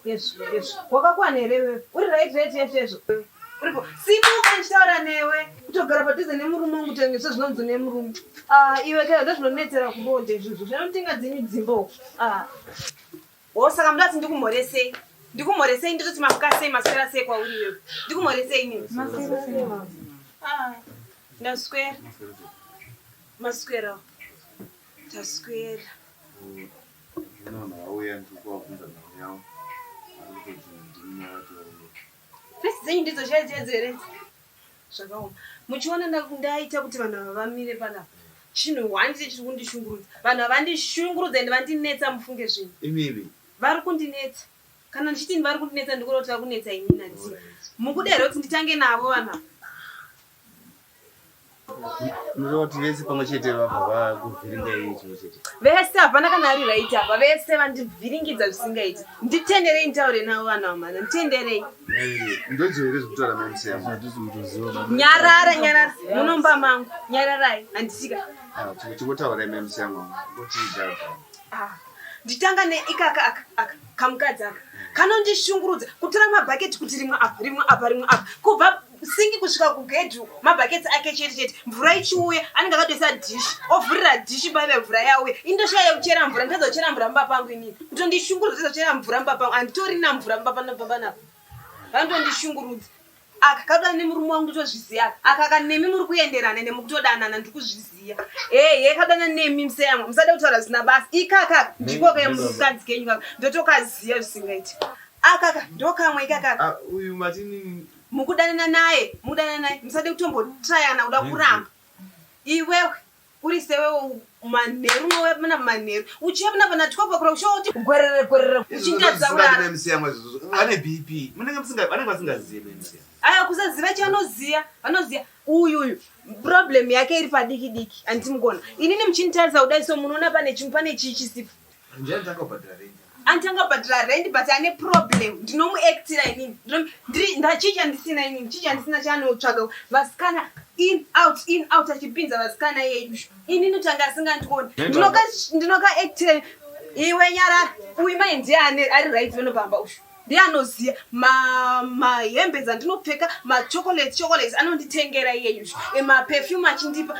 Yesu, Yesu. Wakakwana here wewe? Uri right right yes yes. Uripo. Simuka ndichitaura newe. Kutogara padhuze nemurume wangu tenge sezvinonzi nemurume. Ah, iwe kayo ndozvinonetsera kubonde izvozvo. Zvinotinga dzinyu dzimbo. Ah. Oh, saka muda kuti ndikumhoresei? Ndikumhoresei ndototi mamuka sei maswera sei kwauri iwewe? Ndikumhoresei nini? Ah, ndaswera. Maswera. Ndaswera. Fesi dzenyu ndidzo chaidzo here? Zvakaoma. Muchiona ndaita kuti vanhu ava vamire panapa. Chinhu one chete chiri kundishungurudza. Vanhu ava vandishungurudza and vandinetsa mufunge zvinhu. Imivi. Vari kundinetsa. Kana ndichiti vari kundinetsa ndikuda kuti vari kunetsa ini nandii. Mukuda here kuti nditange navo vanhu ava? Unoda kuti vese pamwe chete vabva vakuvhiringa iye chimwe chete. Vese hapana kana ari right apa vese vandivhiringidza zvisingaiti. Nditenderei nditaure navo vana vamana nditenderei. Ndodziwo here zvekutaura mamusiyama. Nyarara nyarara munomba mangu nyararai handisika. Ah, Tingotaura mamusiyama kuti zvabva. Ah, nditanga neikaka aka aka kamukadzi aka kanondishungurudza kutora mabhaketi kuti rimwe apa rimwe apa rimwe apa kubva singi kusvika kubedroom mabhaketsi ake chete chete mvura ichiuya anenge akatoisa dhishi ovhurira dhishi paive mvura yauya indoshaya yekuchera mvura nditadza kuchera mvura mumba pangu inini kutondishungurudza nditadza kuchera mvura mumba pangu anditorina mvura mumba panobva panapa vanotondishungurudza aka kakuda nemurume wangu nditozviziva aka aka ka nemi muri kuenderana nemi kutodanana ndiri kuzviziva ehe kadana nemi museyamwa musada kutaura zvisina basa ikaka ndiko kemukadzi kenyu kaka ndotokaziva zvisingaiti akaka ndokamwe ikakaka ah, uyu matini mukudanana naye mukudanana naye musade kutombotrayana kuda kuramba iwewe uri sewewo manheru mowemana manheru uchiyamna pana twelve o'clock shoti gwerere gwerere uchindatsa kurara vane bp munenge musinga vanenge vasingazive memusiya aya kusaziva chanoziya vanoziya uyu uyu problem yake iri padiki diki anditi mukona inini muchinditarisa kudai so munoona pane chimwe pane chii chisipo Ndiani chakabhadhara rent? Anti angabhadhara rent but ane problem. Ndinomuactira inini. Ndinomu- ndiri- nda- chii chandisina inini? Chii chandisina chaanotsvaga? Vasikana in out in out achipinza vasikana yedu. Inini kuti anga asingandioni. Nenda- Ndinoka ndinokaactira iwe nyarara. Uyu mai ndiye ane ari right vano pamba ushu. ndiye anoziva mahembe ma dzandinopfeka machocolate chocolate anonditengera iyeyu emaperfume achindipa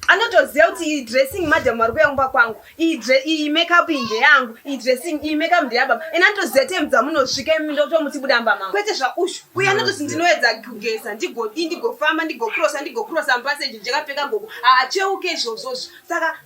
anotoziva kuti iyi dressing madam ari kuya kumba kwangu iyi makeup iyi ndeyangu iyi dressing iyi makeup ndeyababa ena anotoziva time dzamunosvika imi ndotomuti budamba mama kwete zvaushu uye anototi ndinoedza kugeza ndigodii ndigofamba ndigocrossa ndigocrossa mupaseji ndikapfeka gogo haacheuke izvozvozvo saka